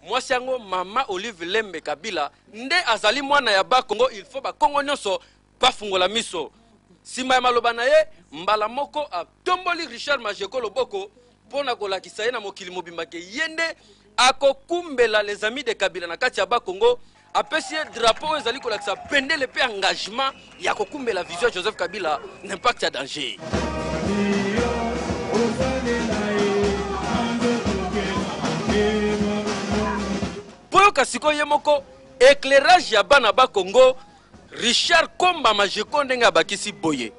mwasi yango mama olive lembe kabila nde azali mwana ya bakongo il faut bakongo nyonso bafungola miso nsima ya maloba na ye mbala moko atomboli richard majeko loboko mpo na kolakisa ye na mokili mobimba ke ye nde akokumbela les amis de kabila na kati ya bakongo apesi ye drapeau oyo ezali kolakisa bendele mpe engagement ya kokumbela vision ya joseph kabila na impact ya danger mpo yoka sikoyo ye moko éclairage ya bana ba congo richard komba majeko ndenge abakisi boye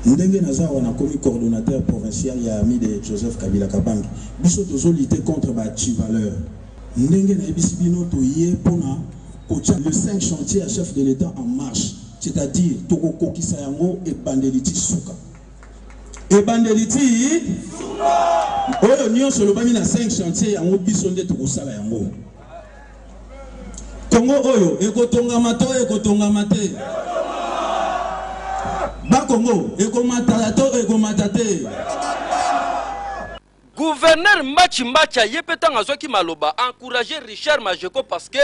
Ndenge naza awa nakomi coordonnateur provincial ya Amis de Joseph Kabila Kabange. Biso tozo lutter contre ba Tchivaleur. Ndenge nayebisi bino toye pona kotia les cinq chantiers ya chef de l'Etat en marche. C'est à dire toko kokisa yango ebandeli ti suka. Ebandeli ti suka. Oyo nionso elobami na cinq chantiers yango biso nde tokosala yango. Congo oyo ekotongama to ekotongama te? Ba Congo ekomata to ekomata te? Gouverneur Mbachi Mbacha ye mpe ntango azwaki maloba encourage Richard Majeko parce que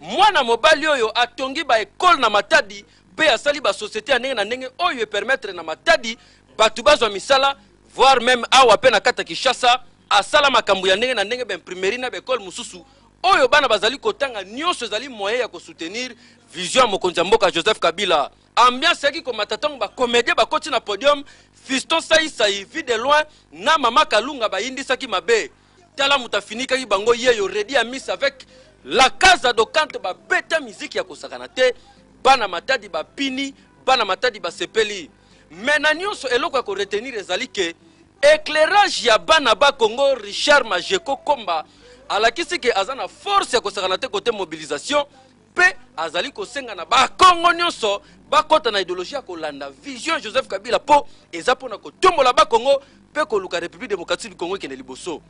mwana mobali oyo atongi ba ekole na Matadi mpe asali ba societe ya ndenge na ndenge oyo epermettre na Matadi bato bazwa misala voir meme awa pe na kata Kinshasa asala makambo ya ndenge na ndenge ba imprimerie na ba école mosusu oyo bana bazali kotanga nyonso ezali moyen ya kosoutenir vision ya mokonzi ya mboka joseph kabila ambiance yaki komata ntango bakomedie bakoti na podium fiston saisai vie de loin na mama kalunga bayindisaki mabe tala moto afinikaki bango yeyo redi ya miss avec la casa dokante babeta miziki ya kosakana te bana matadi bapini bana matadi basepeli mais na nyonso eloko ya koretenir ezali ke éclairage ya bana ba congo richard majeko komba alakisi ke aza na force ya kosakana te kote mobilisation mpe azali kosenga na bakongo nyonso bakɔta na ideologie ya kolanda vision joseph kabila mpo eza mpo na kotombola bakongo mpe koluka république démocratique du congo ekende liboso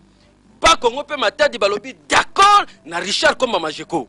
bakongo mpe matadi balobi d'accord na richard komba majeko